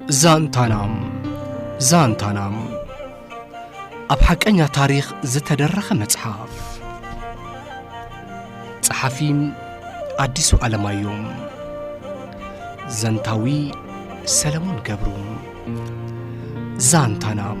ዛንታናም ዛንታናም ኣብ ሓቀኛ ታሪኽ ዝተደረኸ መጽሓፍ ጸሓፊ ኣዲሱ ኣለማዮም ዘንታዊ ሰለሞን ገብሩ ዛንታናም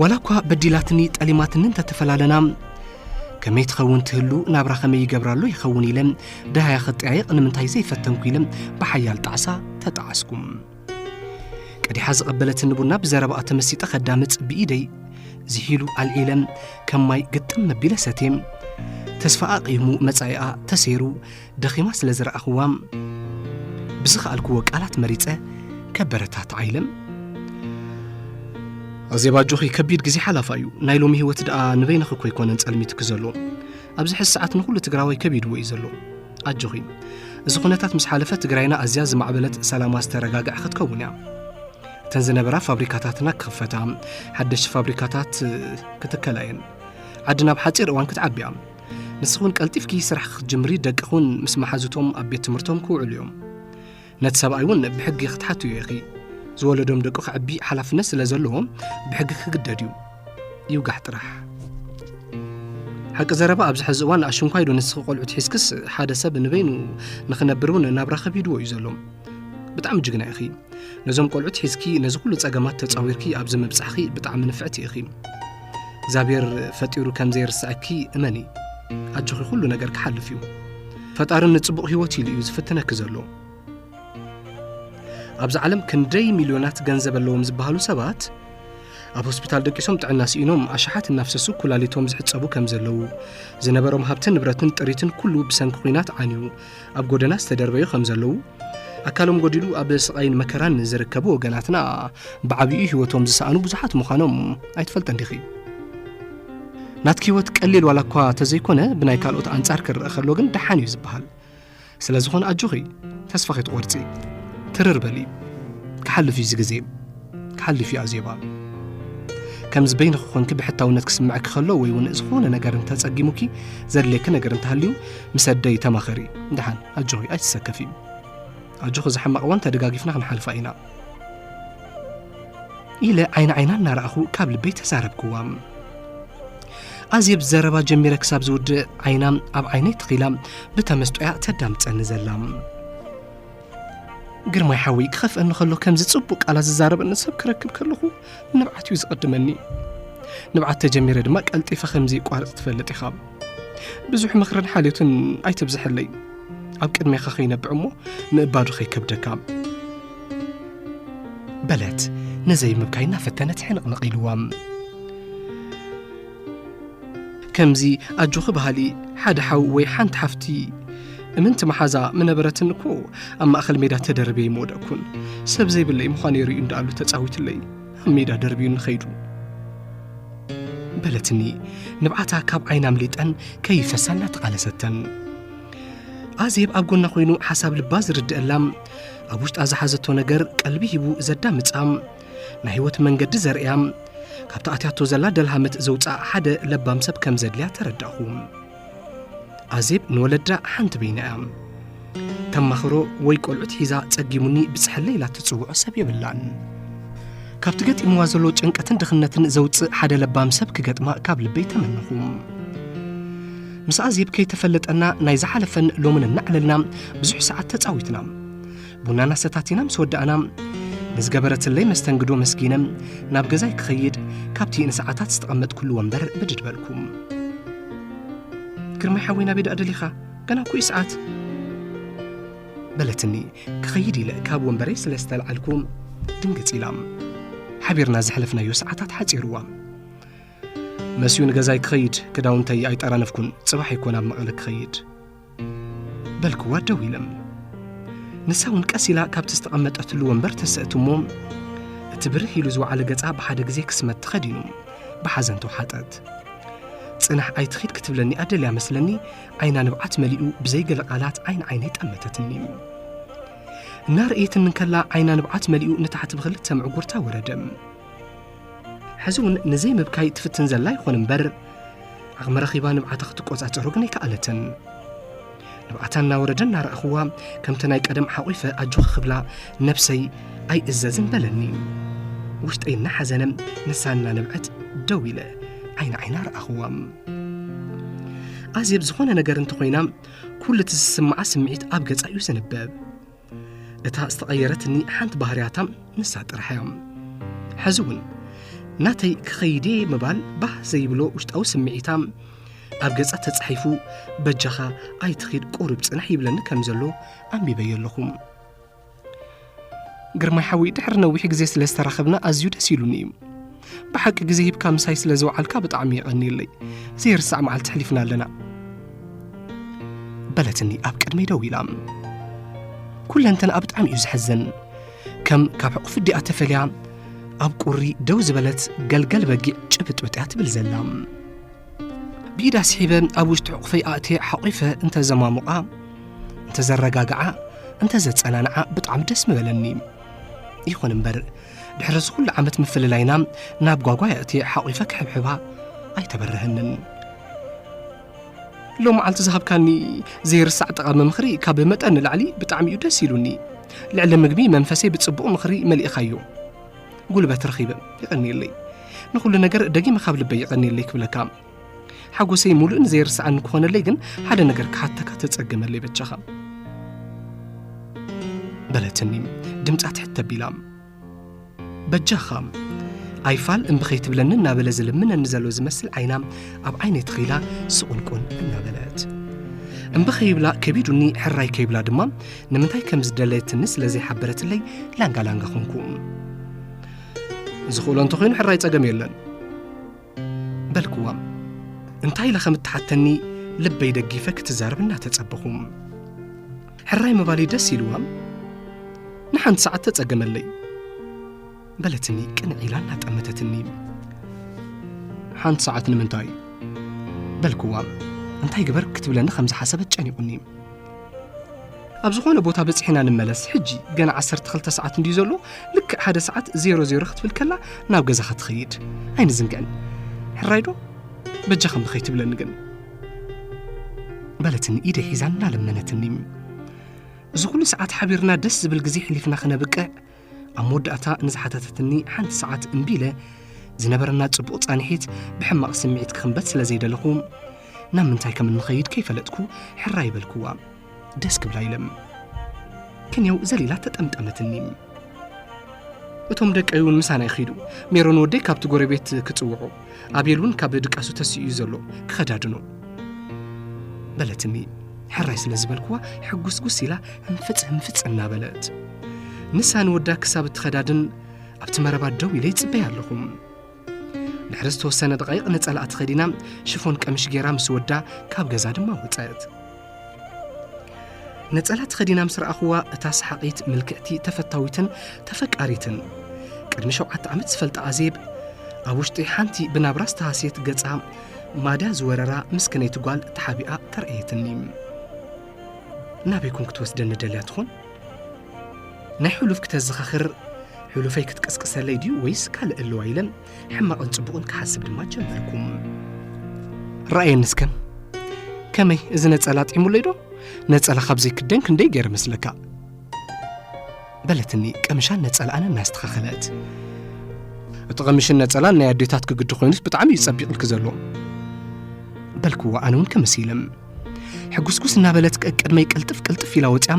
ዋላ እኳ በዲላትኒ ጠሊማትኒ እንተተፈላለና ከመይ ትኸውን ትህሉ ናብራ ከመይ ይገብራሉ ይኸውን ኢለ ደሃያ ክጠያየቕ ንምንታይ ዘይፈተንኩ ኢለ ብሓያል ጣዕሳ ተጣዓስኩም ቀዲሓ ዝቐበለትኒ ቡና ብዘረባኣ ተመሲጠ ከዳምፅ ብኢደይ ዝሒሉ ኣልዒለ ከም ማይ ግጥም መቢለ ሰትየ ተስፋ ኣቕይሙ መጻኢኣ ተሰይሩ ደኺማ ስለ ዝረኣኽዋ ብዝኸኣልክዎ ቃላት መሪፀ ከበረታት ዓይለም ኣዜብ ኣጆኺ ከቢድ ግዜ ሓላፋ እዩ ናይ ሎሚ ህይወት ደኣ ንበይንኺ እኮ ኣይኮነን ጸልሚትኪ ዘሎ ኣብዚ ሕዚ ሰዓት ንኹሉ ትግራዋይ ከቢድዎ እዩ ዘሎ ኣጆኺ እዚ ኩነታት ምስ ሓለፈ ትግራይና ኣዝያ ዝማዕበለት ሰላማ ዝተረጋግዐ ክትከውን እያ እተን ዝነበራ ፋብሪካታትና ክኽፈታ ሓደሽቲ ፋብሪካታት ክትከላ እየን ዓዲ ናብ ሓፂር እዋን ክትዓቢ እያ ንስኹን ቀልጢፍኪ ስራሕ ክትጅምሪ ደቅኹን ምስ መሓዙቶም ኣብ ቤት ትምህርቶም ክውዕሉ እዮም ነቲ ሰብኣይ እውን ብሕጊ ክትሓትዮ ኢኺ። ዝወለዶም ደቁ ከዕቢ ሓላፍነት ስለ ዘለዎም ብሕጊ ክግደድ እዩ። ይውጋሕ ጥራሕ። ሓቂ ዘረባ ኣብዚ ሕዚ እዋን ኣሽንኳይ ዶ ንስኺ ቆልዑ ትሒዝክስ ሓደ ሰብ ንበይኑ ንኽነብር እውን ናብራ ከቢድዎ እዩ ዘሎ ብጣዕሚ ጅግና ኢኺ ነዞም ቆልዑት ሒዝኪ ነዚ ኩሉ ጸገማት ተጻዊርኪ ኣብዚ ምብጻሕኺ ብጣዕሚ ንፍዕቲ ኢኺ እግዚኣብሔር ፈጢሩ ከም ዘይርስዐኪ እመኒ ኣጆኺ ኩሉ ነገር ክሓልፍ እዩ ፈጣሪ ንጽቡቕ ህይወት ኢሉ እዩ ዝፍትነኪ ዘሎ ኣብዚ ዓለም ክንደይ ሚልዮናት ገንዘብ ኣለዎም ዝበሃሉ ሰባት ኣብ ሆስፒታል ደቂሶም ጥዕና ስኢኖም ኣሽሓት እናፍሰሱ ኩላሊቶም ዝሕፀቡ ከም ዘለዉ ዝነበሮም ሃብትን ንብረትን ጥሪትን ኩሉ ብሰንኪ ኩናት ዓንዩ ኣብ ጎደና ዝተደርበዩ ከም ዘለዉ ኣካሎም ጎዲሉ ኣብ ስቓይን መከራን ዝርከቡ ወገናትና ብዓብኡ ህይወቶም ዝሰኣኑ ብዙሓት ምዃኖም ኣይትፈልጠን ዲኺ ናትኪ ህይወት ቀሊል ዋላ እኳ ተዘይኮነ ብናይ ካልኦት ኣንጻር ክረአ ከሎ ግን ደሓን እዩ ዝበሃል ስለ ዝኾነ ኣጆኺ ተስፋ ከይትቖርጺ ትርር በሊ ክሓልፍ እዩ እዚ ግዜ ክሓልፍ እዩ ኣዜባ ከምዚ በይንኺ ኮንኪ ብሕታውነት ክስምዐኪ ከሎ ወይ እውን ዝኾነ ነገር እንተፀጊሙኪ ዘድልየኪ ነገር እንተሃልዩ ምስ ኣደይ ተማኸሪ ድሓን ኣጆኺ ኣይትሰከፊ ኣጆኺ እዚ ሕማቕ እዋን ተደጋጊፍና ክንሓልፋ ኢና ኢለ ዓይኒ ዓይና እናረኣኹ ካብ ልበይ ተዛረብክዋ ኣዜብ ዘረባ ጀሚረ ክሳብ ዝውድእ ዓይና ኣብ ዓይነይ ተኺላ ብተመስጦያ ተዳምፀኒ ዘላ ግርማይ ሓወይ ክኸፍአኒ ከሎ ከምዚ ጽቡቕ ቃላት ዝዛረበኒ ሰብ ክረክብ ከለኹ ንብዓት እዩ ዝቕድመኒ ንብዓት ተጀሚረ ድማ ቀልጢፈ ከምዚ ይቋርጽ ትፈልጥ ኢኻ ብዙሕ ምኽርን ሓልዮትን ኣይተብዝሐለይ ኣብ ቅድሜኻ ከይነብዕ እሞ ምእባዱ ከይከብደካ በለት ነዘይ ምብካይ እናፈተነት ሕንቕንቕ ኢልዋ ከምዚ ኣጆኺ በሃሊ ሓደ ሓው ወይ ሓንቲ ሓፍቲ እምንቲ መሓዛ ምነበረትኒ እኮ ኣብ ማእኸል ሜዳ ተደርበይ ምወደቅኩን ሰብ ዘይብለይ ምዃነይ ርእዩ እንዳኣሉ ተጻዊትለይ ኣብ ሜዳ ደርብዩኒ ኸይዱ በለትኒ ንብዓታ ካብ ዓይና ኣምሊጠን ከይፈሳ እናተቓለሰተን ኣዜብ ኣብ ጎና ኮይኑ ሓሳብ ልባ ዝርድአላ ኣብ ውሽጣ ዝሓዘቶ ነገር ቀልቢ ሂቡ ዘዳምጻ ናይ ህይወት መንገዲ ዘርእያ ካብቲ ኣትያቶ ዘላ ደልሃመት ዘውፅኣ ሓደ ለባም ሰብ ከም ዘድልያ ተረዳእኹ ኣዜብ ንወለዳ ሓንቲ በይና እያ ተማኽሮ ወይ ቆልዑት ሒዛ ጸጊሙኒ ብጽሕለ ኢላ ትጽውዖ ሰብ የብላን ካብቲ ገጢምዋ ዘሎ ጭንቀትን ድኽነትን ዘውፅእ ሓደ ለባም ሰብ ክገጥማ ካብ ልበይ ተመንኹ ምስ ኣዜብ ከይተፈለጠና ናይ ዝሓለፈን ሎምን እናዕለልና ብዙሕ ሰዓት ተጻዊትና ቡናና ሰታቲና ምስ ወዳእና ንዝገበረትለይ መስተንግዶ መስጊነ ናብ ገዛይ ክኸይድ ካብቲ ንሰዓታት ዝተቐመጥኩሉ ወንበር ብድድ በልኩ ግርማይ ሓወይ ናበይ ደኣ ደሊኻ ገና እኮ እዩ ሰዓት በለትኒ ክኸይድ ኢለ ካብ ወንበረይ ስለ ዝተልዓልኩ ድንግፅ ኢላ ሓቢርና ዘሕለፍናዮ ሰዓታት ሓፂርዋ መስዩ ንገዛይ ክኸይድ ክዳውንተይ ኣይጠራነፍኩን ፅባሕ ይኮን ኣብ መቐለ ክኸይድ በልክዋ ደው ኢለም ንሳ እውን ቀስ ኢላ ካብቲ ዝተቐመጠትሉ ወንበር ተሰእት እሞ እቲ ብርህ ኢሉ ዝወዓለ ገጻ ብሓደ ግዜ ክስመት ተኸዲኑ ብሓዘን ተውሓጠት ጽናሕ ኣይትኺድ ክትብለኒ ኣደልያ መስለኒ ዓይና ንብዓት መሊኡ ብዘይገለ ቃላት ዓይን ዓይነይ ጠመተትኒ እናርእየትኒ እንከላ ዓይና ንብዓት መሊኡ ንታሕቲ ብክልተ ምዕጉርታ ወረደ ሕዚ እውን ንዘይምብካይ ትፍትን ዘላ ይኾን እምበር ዓቕሚ ረኺባ ንብዓታ ክትቆጻጸሮ ግን ኣይከኣለትን ንብዓታ እናወረደ እናረኣኽዋ ከምቲ ናይ ቀደም ሓቝፈ ኣጆኺ ክብላ ነብሰይ ኣይእዘዝን በለኒ ውሽጠይ እናሓዘነ ንሳ እናነብዐት ደው ኢለ ዓይኒ ዓይና ረኣኽዋ ኣዜብ ዝኾነ ነገር እንተኾይና ኩሉ እቲ ዝስምዓ ስምዒት ኣብ ገጻ እዩ ዝንበብ እታ ዝተቐየረትኒ ሓንቲ ባህርያታ ንሳ ጥራሕ እያ ሕዚ እውን ናተይ ክኸይድ እየ ምባል ባህ ዘይብሎ ውሽጣዊ ስምዒታ ኣብ ገጻ ተጻሒፉ በጃኻ ኣይትኺድ ቁሩብ ጽናሕ ይብለኒ ከም ዘሎ ኣንቢበዮ ኣለኹ ግርማይ ሓዊ ድሕሪ ነዊሕ ግዜ ስለ ዝተራኸብና ኣዝዩ ደስ ኢሉኒ እዩ ብሓቂ ግዜ ሂብካ ምሳይ ስለ ዝውዓልካ ብጣዕሚ የቐንየለይ ዘይርሳዕ መዓልቲ ሕሊፍና ኣለና በለትኒ ኣብ ቅድመይ ደው ኢላ ኩለንተን ኣብ ብጣዕሚ እዩ ዝሕዝን ከም ካብ ሕቑፊ ዲኣ ተፈልያ ኣብ ቁሪ ደው ዝበለት ገልገል በጊዕ ጭብጥብጥ እያ ትብል ዘላ ብኢዳ ስሒበ ኣብ ውሽጢ ሕቑፈይ ኣእትየ ሓቂፈ እንተዘማሙቓ እንተዘረጋግዓ እንተዘፀናንዓ ብጣዕሚ ደስ ምበለኒ ይኹን እምበር ድሕሪ እዚ ኩሉ ዓመት ምፍልላይና ናብ ጓጓይ ኣእትየ ሓቝፈ ክሕብሕባ ኣይተበረሀንን ሎ መዓልቲ ዝሃብካኒ ዘይርሳዕ ጠቓሚ ምኽሪ ካብ መጠን ንላዕሊ ብጣዕሚ እዩ ደስ ኢሉኒ ልዕሊ ምግቢ መንፈሰይ ብጽቡቕ ምኽሪ መሊእኻዮ ጉልበት ረኺበ ይቐኒየለይ ንኹሉ ነገር ደጊመ ካብ ልበይ ይቐኒየለይ ክብለካ ሓጎሰይ ሙሉእን ዘይርስዓን ክኾነለይ ግን ሓደ ነገር ክሓተካ ተጸገመለይ በጃኻ በለትኒ ድምፃ ትሕት ተቢላ በጃኻ ኣይፋል እምቢ ከይትብለኒ እናበለ ዝልምነኒ ዘሎ ዝመስል ዓይና ኣብ ዓይነይ ተኺላ ስቑንቁን እናበለት እምቢ ከይብላ ከቢዱኒ ሕራይ ከይብላ ድማ ንምንታይ ከም ዝደለየትኒ ስለ ዘይሓበረትለይ ላንጋ ላንጋ ኾንኩ ዝኽእሎ እንተኾይኑ ሕራይ ጸገም የለን በልክዋ እንታይ ኢለ ከም እትሓተኒ ልበይ ደጊፈ ክትዛረብ እናተጸበኹ ሕራይ ምባለይ ደስ ኢልዋ ንሓንቲ ሰዓት ተጸገመለይ በለትኒ ቅንዕ ኢላ እናጠመተትኒ ሓንቲ ሰዓት ንምንታይ በልክዋ እንታይ ግበር ክትብለኒ ከም ዝሓሰበት ጨኒቑኒ ኣብ ዝኾነ ቦታ በጺሕና ንመለስ ሕጂ ገና 12 ሰዓት እንድዩ ዘሎ ልክዕ ሓደ ሰዓት ዜሮ ዜሮ ክትብል ከላ ናብ ገዛኻ ትኸይድ ኣይንዝንግዕን ሕራይዶ በጃ ከም ንኸይትብለኒ ግን በለትኒ ኢደ ሒዛ እናለመነትኒ እዚ ኩሉ ሰዓት ሓቢርና ደስ ዝብል ግዜ ሕሊፍና ክነብቅዕ ኣብ መወዳእታ ንዝሓተተትኒ ሓንቲ ሰዓት እምቢ ኢለ ዝነበረና ጽቡቕ ጻንሒት ብሕማቕ ስምዒት ክኽንበት ስለ ዘይደለኹ ናብ ምንታይ ከም እንኸይድ ከይፈለጥኩ ሕራ ይበልክዋ ደስ ክብላ ኢለም ክንየው ዘሊላ ተጠምጠመትኒ እቶም ደቀይ እውን ምሳና ይኸይዱ ሜሮን ወደይ ካብቲ ጎረቤት ክጽውዑ ኣብየል እውን ካብ ድቃሱ ተስኡ እዩ ዘሎ ክኸዳድኖ በለትኒ ሕራይ ስለ ዝበልክዋ ሕጉስጉስ ኢላ ህንፍፅ ህንፍፅ እናበለት ንሳ ንወዳ ክሳብ እትኸዳድን ኣብቲ መረባ ደው ኢለ ይፅበያ ኣለኹ ድሕሪ ዝተወሰነ ደቓይቕ ነፀላኣ ተኸዲና ሽፎን ቀምሽ ገይራ ምስ ወዳ ካብ ገዛ ድማ ወፀት ነጸላ ተኸዲና ምስ ረኣኹዋ እታ ሰሓቒት ምልክዕቲ ተፈታዊትን ተፈቃሪትን ቅድሚ ሸውዓተ ዓመት ዝፈልጣ ኣዜብ ኣብ ውሽጢ ሓንቲ ብናብራ ዝተሃስየት ገጻ ማድያ ዝወረራ ምስክነይቲ ጓል ተሓቢኣ ተርእየትኒ ናበይ ኮን ክትወስደኒ ደልያ ትኾን ናይ ሕሉፍ ክተዘኻኽር ሕሉፈይ ክትቅስቅሰለይ ድዩ ወይስ ካልእ ኣለዋ ኢለን ሕማቕን ጽቡቕን ክሓስብ ድማ ጀመርኩ ረኣየኒ እስከ ከመይ እዚ ነጸላ ጢሙለይ ዶ ነጸላ ካብ ዘይክደን ክንደይ ገይረ መስለካ በለትኒ ቀምሻን ነጸላኣን እናስተኻኸለት እቲ ቐምሽን ነጸላን ናይ ኣዴታት ክግዲ ኮይኑስ ብጣዕሚ እዩ ጸቢቕልኪ ዘሎ በልክዎ ኣነ እውን ከመሲለም ሕጉስጉስ እናበለት ቀቅድመይ ቅልጥፍ ቅልጥፍ ኢላ ወፅያ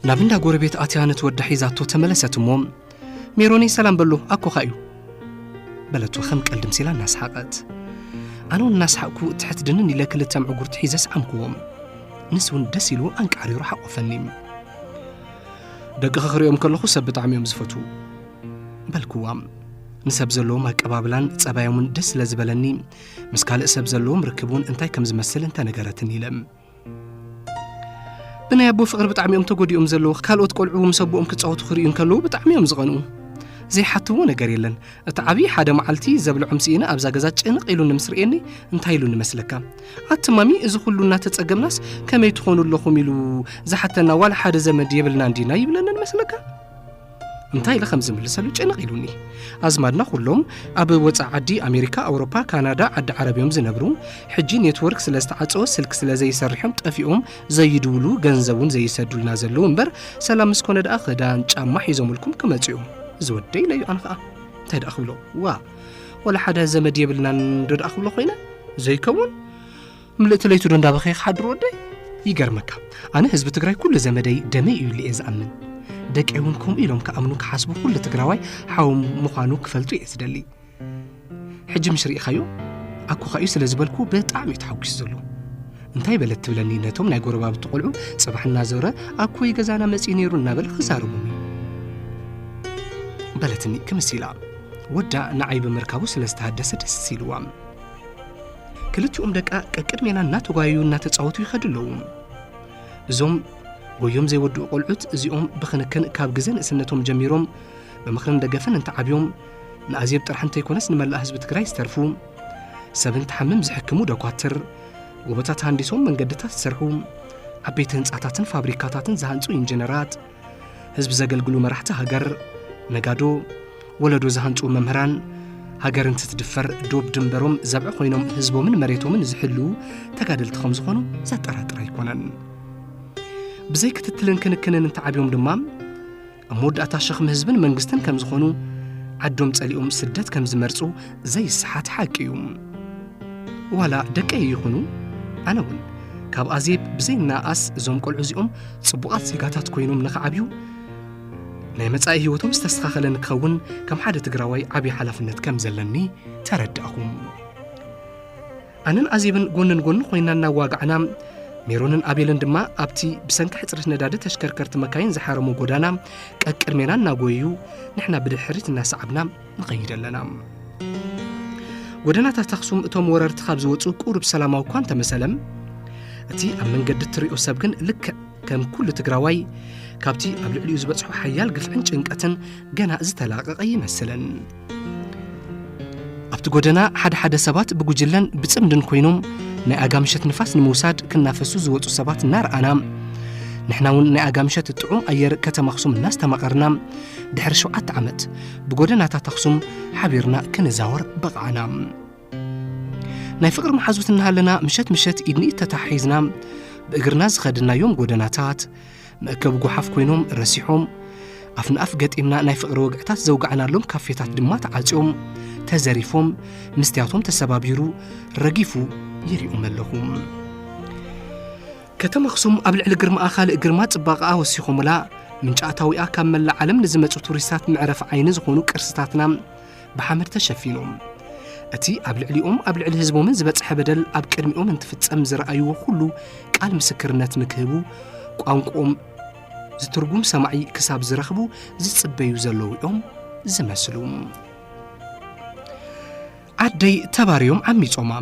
ናብ እንዳ ጎረቤት ኣትያ ነቲ ወዳ ሒዛቶ ተመለሰት እሞ ሜሮነይ ሰላም በሎ ኣኮኻ እዩ በለቶ ከም ቀልዲ ምሲላ እናስሓቐት ኣነ እውን እናስሓቕኩ ትሕት ድንን ኢለ ክልተ ምዕጉርቲ ሒዘ ስዓምክዎም ንስ እውን ደስ ኢሉ ኣንቃሪሩ ሓቆፈኒ ደቅኺ ክሪኦም ከለኹ ሰብ ብጣዕሚ እዮም ዝፈትዉ በልክዋ ንሰብ ዘለዎም ኣቀባብላን ጸባዮምን ደስ ስለ ዝበለኒ ምስ ካልእ ሰብ ዘለዎም ርክብ እውን እንታይ ከም ዝመስል እንተነገረትኒ ኢለ ብናይ ኣቦ ፍቕሪ ብጣዕሚ እዮም ተጎዲኦም ዘለዉ ካልኦት ቆልዑ ምስ ኣቦኦም ክፃወቱ ክርእዩ እንከለዉ ብጣዕሚ እዮም ዝቐንኡ ዘይሓትዎ ነገር የለን እቲ ዓብዪ ሓደ መዓልቲ ዘብልዖም ስኢነ ኣብዛ ገዛ ጭንቕ ኢሉኒ ምስ ርእየኒ እንታይ ኢሉኒ መስለካ ኣቲ ማሚ እዚ ኩሉ እናተፀገምናስ ከመይ ትኾኑ ኣለኹም ኢሉ ዝሓተና ዋላ ሓደ ዘመድ የብልናን ዲና ይብለንን መስለካ እንታይ ኢለ ከም ዝምልሰሉ ጭንቕ ኢሉኒ ኣዝማድና ኩሎም ኣብ ወፃ ዓዲ ኣሜሪካ ኣውሮፓ ካናዳ ዓዲ ዓረብ እዮም ዝነብሩ ሕጂ ኔትወርክ ስለ ዝተዓፀወ ስልክ ስለ ዘይሰርሕዮም ጠፊኦም ዘይድውሉ ገንዘብ እውን ዘይሰዱልና ዘለዉ እምበር ሰላም ምስ ኮነ ደኣ ክዳን ጫማ ሒዞምልኩም ክመፁ እዮም እዚ ወደ ኢለ እዩ ኣነ ከዓ እንታይ ደኣ ክብሎ ዋ ወላ ሓደ ዘመድ የብልናን ዶ ደኣ ክብሎ ኮይነ ዘይከውን ምልእቲ ለይቱ ዶ እንዳበኸ ክሓድር ወደይ ይገርመካ ኣነ ህዝቢ ትግራይ ኩሉ ዘመደይ ደመይ እዩ ኢለ እየ ዝኣምን ደቂ እውን ከምኡ ኢሎም ክኣምኑ ክሓስቡ ኩሉ ትግራዋይ ሓው ምዃኑ ክፈልጡ እየ ዝደሊ ሕጂ ምሽ ርኢኻዮ ኣኮኻ እዩ ስለ ዝበልኩ ብጣዕሚ እዩ ተሓጒሱ ዘሎ እንታይ በለት ትብለኒ ነቶም ናይ ጎረባብቲ ቆልዑ ጽባሕ እናዞረ ኣኮይ ገዛና መጺኡ ነይሩ እናበለ ክዛረቦም እዩ በለትኒ ክምስ ኢላ ወዳ ንዓይ ብምርካቡ ስለ ዝተሃደሰ ደስ ኢልዋም ክልቲኦም ደቃ ቀቅድሜና እናተጓየዩ እናተፃወቱ ይኸዱ ኣለዉ እዞም ጎዮም ዘይወድኡ ቆልዑት እዚኦም ብክንክን ካብ ግዘ ንእስነቶም ጀሚሮም ብምኽርን ደገፍን እንተዓብዮም ንኣዜብ ጥራሕ እንተይኮነስ ንመላእ ህዝቢ ትግራይ ዝተርፉ ሰብ እንትሓምም ዝሕክሙ ደኳትር ጎቦታት ሃንዲሶም መንገድታት ዝሰርሑ ዓበይቲ ህንፃታትን ፋብሪካታትን ዝሃንፁ ኢንጂነራት ህዝቢ ዘገልግሉ መራሕቲ ሃገር፣ ነጋዶ፣ ወለዶ ዝሃንጹ መምህራን፣ ሃገር እንትትድፈር ዶብ ድንበሮም ዘብዐ ኮይኖም ህዝቦምን መሬቶምን ዝሕልዉ ተጋደልቲ ከም ዝኾኑ ዘጠራጥር ኣይኮነን። ብዘይ ክትትልን ክንክንን እንተዓብዮም ድማ ኣብ መወዳእታ ሸኽሚ ህዝብን መንግስትን ከም ዝኾኑ ዓዶም ጸሊኦም ስደት ከም ዝመርጹ ዘይሰሓት ሓቂ እዩ ዋላ ደቀይ ይኹኑ ኣነ እውን ካብ ኣዜብ ብዘይናኣስ እዞም ቆልዑ እዚኦም ጽቡቓት ዜጋታት ኮይኖም ንኽዓብዩ ናይ መጻኢ ህይወቶም ዝተስተኻኸለ ንክኸውን ከም ሓደ ትግራዋይ ዓብዪ ሓላፍነት ከም ዘለኒ ተረዳእኹ ኣነን ኣዜብን ጎንን ጎኒ ኮይና እናዋጋዕና ሜሮንን ኣቤልን ድማ ኣብቲ ብሰንኪ ሕፅረት ነዳዲ ተሽከርከርቲ መካይን ዝሓረሙ ጎዳና ቀቅድሜና እናጎየዩ ንሕና ብድሕሪት እናሰዓብና ንኸይድ ኣለና ጎደናታት ኣኽሱም እቶም ወረርቲ ካብ ዝወፁ ቁሩብ ሰላማዊ እኳ እንተመሰለም እቲ ኣብ መንገዲ እትሪኦ ሰብ ግን ልክዕ ከም ኩሉ ትግራዋይ ካብቲ ኣብ ልዕሊኡ ዝበፅሖ ሓያል ግፍዕን ጭንቀትን ገና ዝተላቐቐ ይመስለን ኣብቲ ጎደና ሓደ ሓደ ሰባት ብጉጅለን ብፅምድን ኮይኖም ናይ ኣጋምሸት ንፋስ ንምውሳድ ክናፈሱ ዝወፁ ሰባት እናረኣና ንሕና እውን ናይ ኣጋምሸት ጥዑም ኣየር ከተማ ኣኽሱም እናስተማቐርና ድሕሪ ሸውዓተ ዓመት ብጎደናታት ኣኽሱም ሓቢርና ክንዛወር በቕዓና ናይ ፍቕሪ መሓዙት እናሃለና ምሸት ምሸት ኢድንኢድ ተተሓሒዝና ብእግርና ዝኸድናዮም ጎደናታት መእከቢ ጓሓፍ ኮይኖም ረሲሖም ኣፍ ንኣፍ ገጢምና ናይ ፍቕሪ ወግዕታት ዘውጋዕናሎም ካፌታት ድማ ተዓጽዮም ተዘሪፎም ምስትያቶም ተሰባቢሩ ረጊፉ ይሪኦም ኣለኹ ከተማ ኣኽሱም ኣብ ልዕሊ ግርማኣ ካልእ ግርማ ጽባቐኣ ወሲኾምላ ምንጪ ኣታዊኣ ካብ መላእ ዓለም ንዝመጹ ቱሪስታት መዕረፊ ዓይኒ ዝኾኑ ቅርስታትና ብሓመድ ተሸፊኖም እቲ ኣብ ልዕሊኦም ኣብ ልዕሊ ህዝቦምን ዝበጽሐ በደል ኣብ ቅድሚኦም እንትፍጸም ዝረኣይዎ ኩሉ ቃል ምስክርነት ንክህቡ ቋንቋኦም ዝትርጉም ሰማዒ ክሳብ ዝረኽቡ ዝጽበዩ ዘለዉ እዮም ዝመስሉ ዓደይ ተባርዮም ዓሚጾማ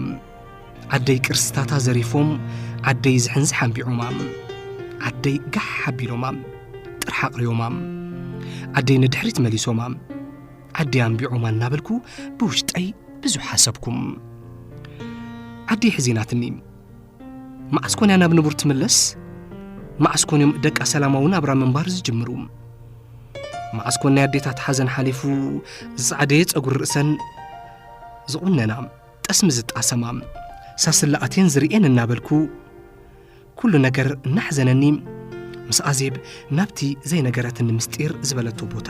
ዓደይ ቅርስታታ ዘሪፎም ዓደይ ዝሕንዝሕ ኣንቢዖማ ዓደይ ጋሕ ሓቢሎማ ጥራሕ ኣቕርዮማ ዓደይ ንድሕሪት መሊሶማ ዓደይ ኣንቢዖማ እናበልኩ ብውሽጠይ ብዙሕ ሓሰብኩም ዓደይ ሕዚናትኒ መዓስ ኮን እያ ናብ ንቡር ትምለስ? መዓስ ኮን እዮም ደቃ ሰላማዊ ናብራ ምንባር ዝጅምሩ? መዓስ ኮን ናይ ኣዴታት ሓዘን ሓሊፉ ዝጸዓደየ ጸጉሪ ርእሰን ዝቑነና ጠስሚ ዝጣሰማ ሳስላ ኣቴን ዝርእየን እናበልኩ ኩሉ ነገር እናሕዘነኒ ምስ ኣዜብ ናብቲ ዘይነገረትኒ ምስጢር ዝበለቶ ቦታ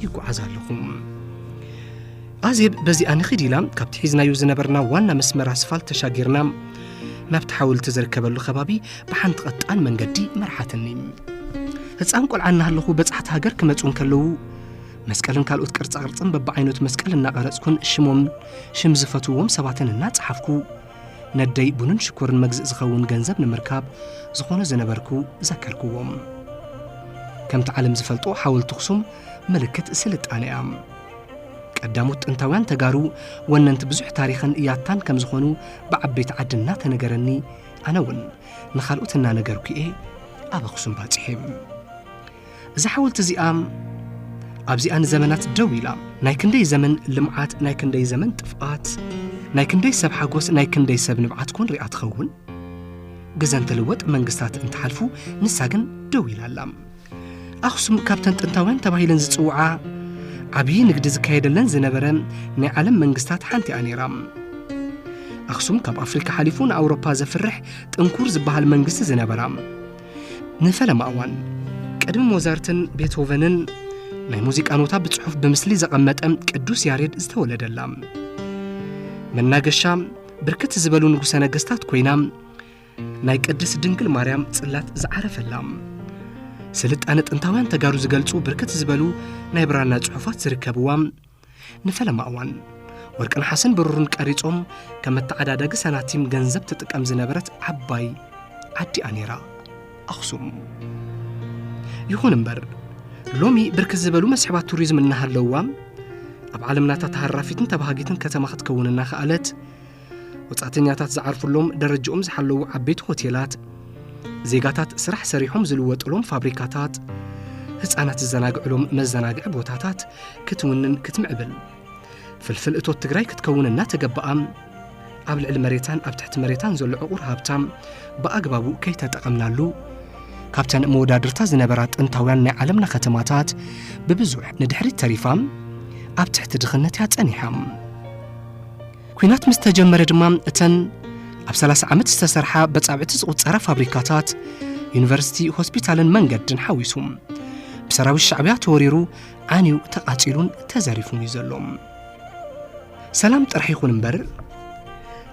ይጓዓዝ ኣለኹ። ኣዜብ በዚኣ ንኺድ ኢላ ካብቲ ሒዝናዮ ዝነበርና ዋና መስመር ኣስፋልት ተሻጊርና ናብቲ ሓወልቲ ዝርከበሉ ከባቢ ብሓንቲ ቐጣን መንገዲ መርሓትኒ። ህፃን ቆልዓ እናሃለኹ በጻሕቲ ሃገር ክመፁ እንከለዉ መስቀልን ካልኦት ቅርጻ ቅርጽን በብዓይነቱ መስቀል እናቐረጽኩን ሽሞም ሽም ዝፈትዎም ሰባትን እናጸሓፍኩ ነደይ ቡንን ሽኮርን መግዝእ ዝኸውን ገንዘብ ንምርካብ ዝኾነ ዝነበርኩ ዘከርክዎም። ከምቲ ዓለም ዝፈልጦ ሓወልቲ ኣኽሱም ምልክት ስልጣነ እያ። ቀዳሞት ጥንታውያን ተጋሩ ወነንቲ ብዙሕ ታሪኽን ያታን ከም ዝኾኑ ብዓበይቲ ዓዲ እናተነገረኒ ኣነ እውን ንኻልኦት እናነገርኩ እየ ኣብ ኣኽሱም ባፂሐ። እዛ ሓወልቲ እዚኣ ኣብዚኣ ንዘመናት ደው ኢላ ናይ ክንደይ ዘመን ልምዓት ናይ ክንደይ ዘመን ጥፍኣት ናይ ክንደይ ሰብ ሓጎስ ናይ ክንደይ ሰብ ንብዓት ኮን ሪኣ ትኸውን ግዘ እንትልወጥ መንግስታት እንትሓልፉ ንሳ ግን ደው ኢላ ኣላ ኣኽሱም ካብተን ጥንታውያን ተባሂለን ዝፅውዓ ዓብዪ ንግዲ ዝካየደለን ዝነበረ ናይ ዓለም መንግስታት ሓንቲ እያ ነይራ ኣኽሱም ካብ ኣፍሪካ ሓሊፉ ንኣውሮፓ ዘፍርሕ ጥንኩር ዝበሃል መንግስቲ ዝነበራ ንፈለማ እዋን ቅድሚ ሞዛርትን ቤትሆቨንን ናይ ሙዚቃ ኖታ ብጽሑፍ ብምስሊ ዘቐመጠ ቅዱስ ያሬድ ዝተወለደላ መናገሻ ብርክት ዝበሉ ንጉሠ ነገሥታት ኮይና ናይ ቅድስ ድንግል ማርያም ጽላት ዝዓረፈላ ስልጣነ ጥንታውያን ተጋሩ ዝገልጹ ብርክት ዝበሉ ናይ ብራና ጽሑፋት ዝርከብዋ ንፈለማ እዋን ወርቂ ነሓስን ብሩርን ቀሪጾም ከም መተዓዳደጊ ሰናቲም ገንዘብ ትጥቀም ዝነበረት ዓባይ ዓዲኣ ነይራ ኣኽሱም ይኹን እምበር ሎሚ ብርክ ዝበሉ መስሕባት ቱሪዝም እናሃለውዋ ኣብ ዓለምናታ ተሃራፊትን ተባሃጊትን ከተማ ክትከውን እናኸኣለት ወጻእተኛታት ዝዓርፍሎም ደረጃኦም ዝሓለዉ ዓበይቲ ሆቴላት፣ ዜጋታት ስራሕ ሰሪሖም ዝልወጥሎም ፋብሪካታት፣ ህፃናት ዝዘናግዕሎም መዘናግዒ ቦታታት ክትውንን ክትምዕብል ፍልፍል እቶት ትግራይ ክትከውን እናተገበኣ ኣብ ልዕሊ መሬታን ኣብ ትሕቲ መሬታን ዘሎ ዕቑር ሃብታ ብኣግባቡ ከይተጠቐምናሉ ካብተን መወዳድርታ ዝነበራ ጥንታውያን ናይ ዓለምና ከተማታት ብብዙሕ ንድሕሪት ተሪፋ ኣብ ትሕቲ ድኽነት እያ ጸኒሓ ኲናት ምስ ተጀመረ ድማ እተን ኣብ 30 ዓመት ዝተሰርሓ በጻብዕቲ ዝቝጸራ ፋብሪካታት፣ ዩኒቨርሲቲ፣ ሆስፒታልን መንገድን ሓዊሱ ብሰራዊት ሻዕብያ ተወሪሩ ዓንዩ ተቓጺሉን ተዘሪፉን እዩ ዘሎ። ሰላም ጥራሕ ይኹን እምበር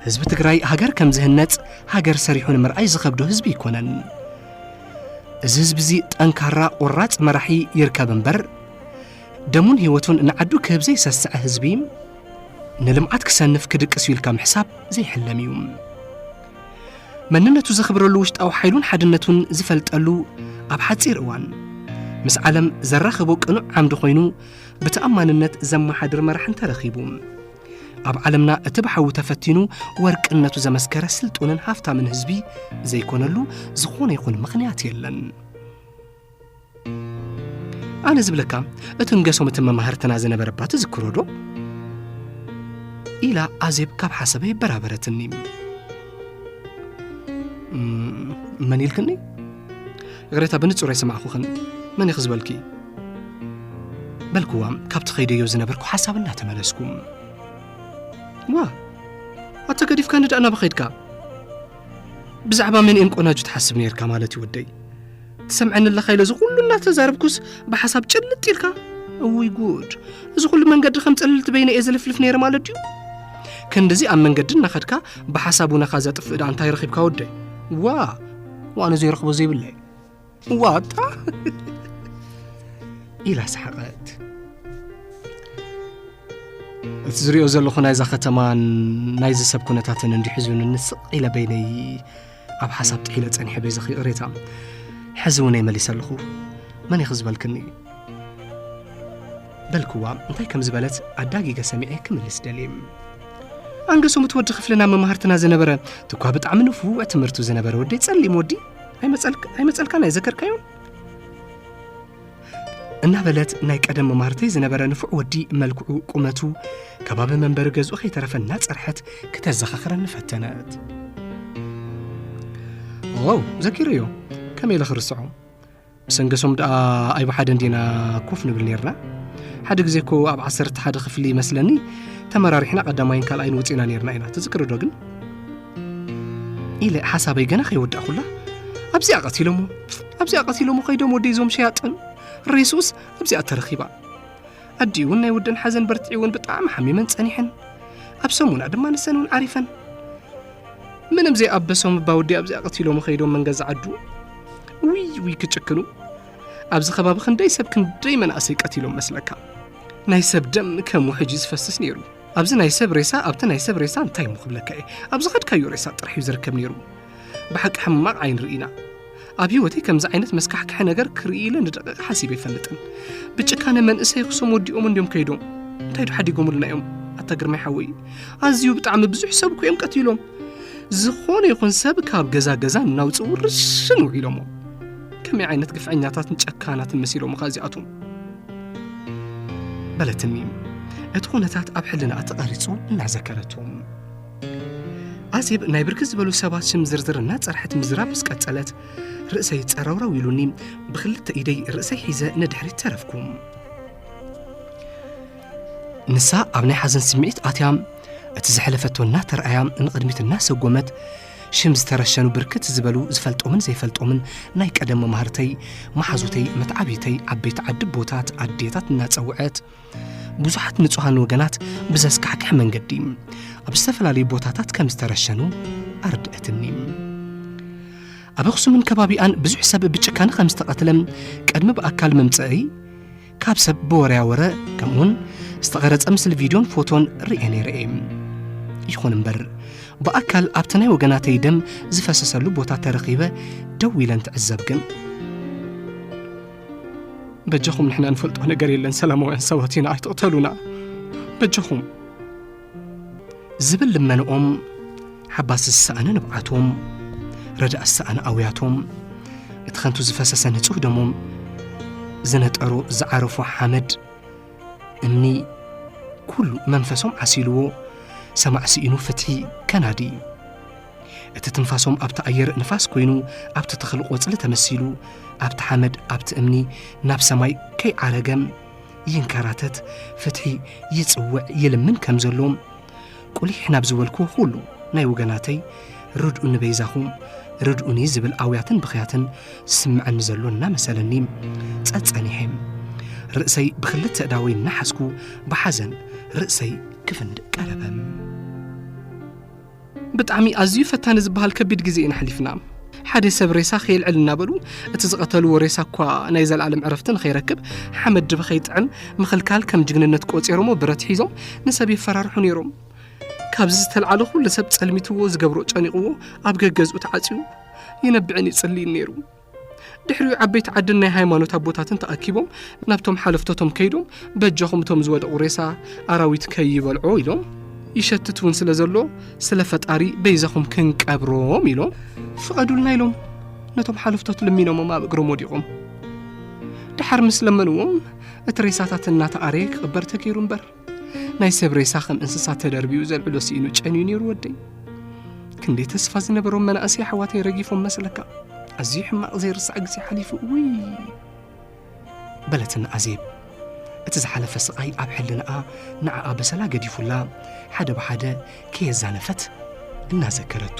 ህዝቢ ትግራይ ሃገር ከም ዝህነጽ ሃገር ሰሪሑ ንምርኣይ ዝኸብዶ ህዝቢ ኣይኮነን። እዚ ህዝቢ እዚ ጠንካራ ቆራጽ መራሒ ይርከብ እምበር ደሙን ህይወቱን ንዓዱ ክህብ ዘይሰስዐ ህዝቢ ንልምዓት ክሰንፍ ክድቅስ እዩ ኢልካ ምሕሳብ ዘይሕለም እዩ መንነቱ ዘኽብረሉ ውሽጣዊ ሓይሉን ሓድነቱን ዝፈልጠሉ ኣብ ሓፂር እዋን ምስ ዓለም ዘራኽቦ ቅኑዕ ዓምዲ ኮይኑ ብተኣማንነት ዘመሓድር መራሕ እንተረኺቡ ኣብ ዓለምና እቲ ብሓዊ ተፈቲኑ ወርቅነቱ ዘመስከረ ስልጡንን ሃፍታምን ህዝቢ ዘይኮነሉ ዝኾነ ይኹን ምኽንያት የለን ኣነ ዝብለካ እቲ ንገሶም እቲ መማህርትና ዝነበረባ ትዝክሮ ዶ ኢላ ኣዜብ ካብ ሓሰበ ይበራበረትኒ መን ኢልክኒ ይቕሬታ ብንጹር ኣይሰማዕኹኽን መን ኢኺ ዝበልኪ በልክዋ ካብቲ ከይደዮ ዝነበርኩ ሓሳብ እናተመለስኩ ዋ ኣታ ገዲፍካ ንዳእ ናበኸድካ ብዛዕባ መን እየን ቆናጁ ትሓስብ ነርካ ማለት እዩ ወደይ ትሰምዐኒ ኣለኻ ኢለ እዚ ኩሉ እናተዛረብኩስ ብሓሳብ ጭልጥ ኢልካ እውይ ጉድ እዚ ኩሉ መንገዲ ከም ፀልልቲ በይነ እየ ዝልፍልፍ ነይረ ማለት ድዩ ክንድዚ ኣብ መንገዲ እናኸድካ ብሓሳብ ውነኻ ዘጥፍእ ዳ እንታይ ረኺብካ ወደይ ዋ ዋነ ዘይረኽቦ ዘይብለይ ዋታ ኢላ ሰሓቐት እቲ ዝሪኦ ዘለኹ ናይዛ ከተማን ናይዚ ሰብ ኩነታትን እንዲሕዙን ንስቕ ኢለ በይነይ ኣብ ሓሳብ ጥሒለ ጸኒሐ በይዘኺ እሬታ ሕዚ እውን መሊሰ ኣለኹ መን ኢኺ ዝበልክኒ በልክዋ እንታይ ከም ዝበለት ኣዳጊገ ሰሚዐ ክምልስ ደልየ ኣንገሶም እቲ ወዲ ክፍልና መማህርትና ዝነበረ ትኳ ብጣዕሚ ንፉዕ ትምህርቱ ዝነበረ ወዲ ጸሊም ወዲ ኣይመጸልካን ኣይዘከርካዮን እናበለት ናይ ቀደም መማህርተይ ዝነበረ ንፉዕ ወዲ መልክዑ ቁመቱ ከባቢ መንበሪ ገዝኡ ከይተረፈ እናፀርሐት ክተዘኻኽረኒ ፈተነት ዋው ዘኪሩ እዩ ከመይ ኢለ ክርስዖ ብሰንገሶም ደኣ ኣይብ ሓደ እንዲና ኮፍ ንብል ነርና ሓደ ግዜ እኮ ኣብ ዓሰርተ ሓደ ክፍሊ ይመስለኒ ተመራሪሕና ቀዳማይን ካልኣይን ውፅና ነርና ኢና ትዝክርዶ ግን ኢለ ሓሳበይ ገና ከይወዳእኩላ ኣብዚኣ ቀቲሎሞ ኣብዚኣ ቀቲሎሞ ከይዶም ወደይ ዞም ሸያጥን ሬሱስ ኣብዚኣ ተረኺባ ኣዲኡ እውን ናይ ወደን ሓዘን በርትዒውን ብጣዕሚ ሓሚመን ጸኒሐን ኣብ ሰሙና ድማ ንሰን እውን ዓሪፈን ምንም ዘይኣበሶም እባ ወዲ ኣብዚኣ ቀቲሎሞ ከይዶም መንገዛ ዓዱ ውይ ውይ ክጭክኑ ኣብዚ ከባቢ ክንደይ ሰብ ክንደይ መናእሰይ ቀቲሎም መስለካ ናይ ሰብ ደም ከም ውሕጂ ዝፈስስ ነይሩ ኣብዚ ናይ ሰብ ሬሳ ኣብቲ ናይ ሰብ ሬሳ እንታይ እሞ ክብለካ እየ ኣብ ዝኸድካዮ ሬሳ ጥራሕ እዩ ዝርከብ ነይሩ ብሓቂ ሕማቕ ዓይን ርኢና ኣብ ህይወተይ ከምዚ ዓይነት መስካሕክሐ ነገር ክርኢ ኢለ ንደቂቕ ሓሲበ ኣይፈልጥን ብጭካነ መንእሰይ ክሶም ወዲኦም እንዲዮም ከይዶም እንታይ ዶ ሓዲጎምልና እዮም ኣታ ግርማይ ሓወይ ኣዝዩ ብጣዕሚ ብዙሕ ሰብ እኮ እዮም ቀቲሎም ዝኾነ ይኹን ሰብ ካብ ገዛ ገዛ እናውፅ ውርሽን ውዒሎሞ ከመይ ዓይነት ግፍዐኛታትን ጨካናትን መሲሎምኻ እዚኣቶም በለትኒ እቲ ኩነታት ኣብ ሕልናኣ ተቐሪጹ እናዘከረቱ ኣዜብ ናይ ብርክት ዝበሉ ሰባት ሽም ዝርዝር እናፀርሐት ምዝራብ ምስ ቀጸለት ርእሰይ ጸረውረው ኢሉኒ ብክልተ ኢደይ ርእሰይ ሒዘ ንድሕሪት ተረፍኩ ንሳ ኣብ ናይ ሓዘን ስምዒት ኣትያ እቲ ዝሐለፈቶ እናተረኣያ ንቕድሚት እናሰጎመት ሽም ዝተረሸኑ ብርክት ዝበሉ ዝፈልጦምን ዘይፈልጦምን ናይ ቀደም መማህርተይ፣ መሓዙተይ፣ መትዓብይተይ፣ ዓበይቲ ዓዲ ኣቦታት፣ ኣዴታት እናጸውዐት ብዙሓት ንጹሃን ወገናት ብዘስካሕክሕ መንገዲ ኣብ ዝተፈላለዩ ቦታታት ከም ዝተረሸኑ ኣርድእትኒ። ኣብ ኣኽሱምን ከባቢኣን ብዙሕ ሰብ ብጭካነ ከም ዝተቐትለ ቅድሚ ብኣካል ምምጽእይ ካብ ሰብ ብወረያ ወረ ከምኡውን ዝተቐረጸ ምስሊ ቪድዮን ፎቶን ርእየ ነይረ እየ ይኹን እምበር ብኣካል ኣብቲ ናይ ወገናተይ ደም ዝፈሰሰሉ ቦታ ተረኺበ ደው ኢለን ትዕዘብ ግን በጃኹም ንሕና ንፈልጦ ነገር የለን ሰላማውያን ሰባት ኢና ኣይትቕተሉና በጃኹም ዝብል ልመንኦም ሓባስ ዝሰኣነ ንብዓቶም ረዳእ ዝሰኣነ ኣውያቶም እቲ ከንቱ ዝፈሰሰ ንጹህ ደሞም ዝነጠሩ ዝዓረፉ ሓመድ እምኒ ኩሉ መንፈሶም ዓሲልዎ ሰማዕ ስኢኑ ፍትሒ ከናዲ እቲ ትንፋሶም ኣብቲ ኣየር ንፋስ ኮይኑ ኣብቲ ተኽሊ ቆጽሊ ተመሲሉ ኣብቲ ሓመድ ኣብቲ እምኒ ናብ ሰማይ ከይዓረገም ይንከራተት ፍትሒ ይጽውዕ ይልምን ከም ዘሎም ቁሊሕ ናብ ዝበልክዎ ኩሉ ናይ ወገናተይ ርድኡኒ በይዛኹም ርድኡኒ ዝብል ኣውያትን ብኽያትን ስምዐኒ ዘሎ እናመሰለኒ ጸጸኒሐ ርእሰይ ብክልተ እዳወይ እናሓዝኩ ብሓዘን ርእሰይ ክፍንድእ ቀረበ ብጣዕሚ ኣዝዩ ፈታኒ ዝበሃል ከቢድ ግዜ ኢና ኣሕሊፍና። ሓደ ሰብ ሬሳ ከየልዕል እናበሉ እቲ ዝቐተልዎ ሬሳ እኳ ናይ ዘለኣለም ዕረፍቲ ንኸይረክብ ሓመድ ድበ ከይጥዕም ምኽልካል ከም ጅግንነት ቆጺሮሞ ብረት ሒዞም ንሰብ የፈራርሑ ነይሮም። ካብዚ ዝተልዓለ ኩሉ ሰብ ጸልሚትዎ ዝገብሮ ጨኒቕዎ ኣብ ገገዝኡ ተዓጽዩ ይነብዕን ይጽልይን ነይሩ። ድሕሪኡ ዓበይቲ ዓድን ናይ ሃይማኖት ኣቦታትን ተኣኪቦም ናብቶም ሓለፍቶቶም ከይዶም በጃኹም እቶም ዝወደቑ ሬሳ ኣራዊት ከይበልዖ ኢሎም ይሸትት እውን ስለ ዘሎ ስለ ፈጣሪ በይዛኹም ክንቀብሮም ኢሎም ፍቐዱልና ኢሎም ነቶም ሓለፍቶት ልሚኖሞም ኣብ እግሮም ወዲቖም ድሓር ምስ ለመንዎም እቲ ሬሳታት እናተኣረየ ክቕበር ተገይሩ እምበር ናይ ሰብ ሬሳ ከም እንስሳ ተደርቢኡ ዘልዕሎ ስኢኑ ጨንዩ ነይሩ ወደይ ክንደይ ተስፋ ዝነበሮም መናእሰይ ኣሕዋተይ ረጊፎም መስለካ ኣዝዩ ሕማቕ ዘይርሳዕ ግዜ ሓሊፉ እውይ በለትና ኣዜብ እቲ ዝሓለፈ ስቓይ ኣብ ሕልናኣ ንዓኣ በሰላ ገዲፉላ ሓደ ብሓደ ከየዛነፈት እናዘከረቱ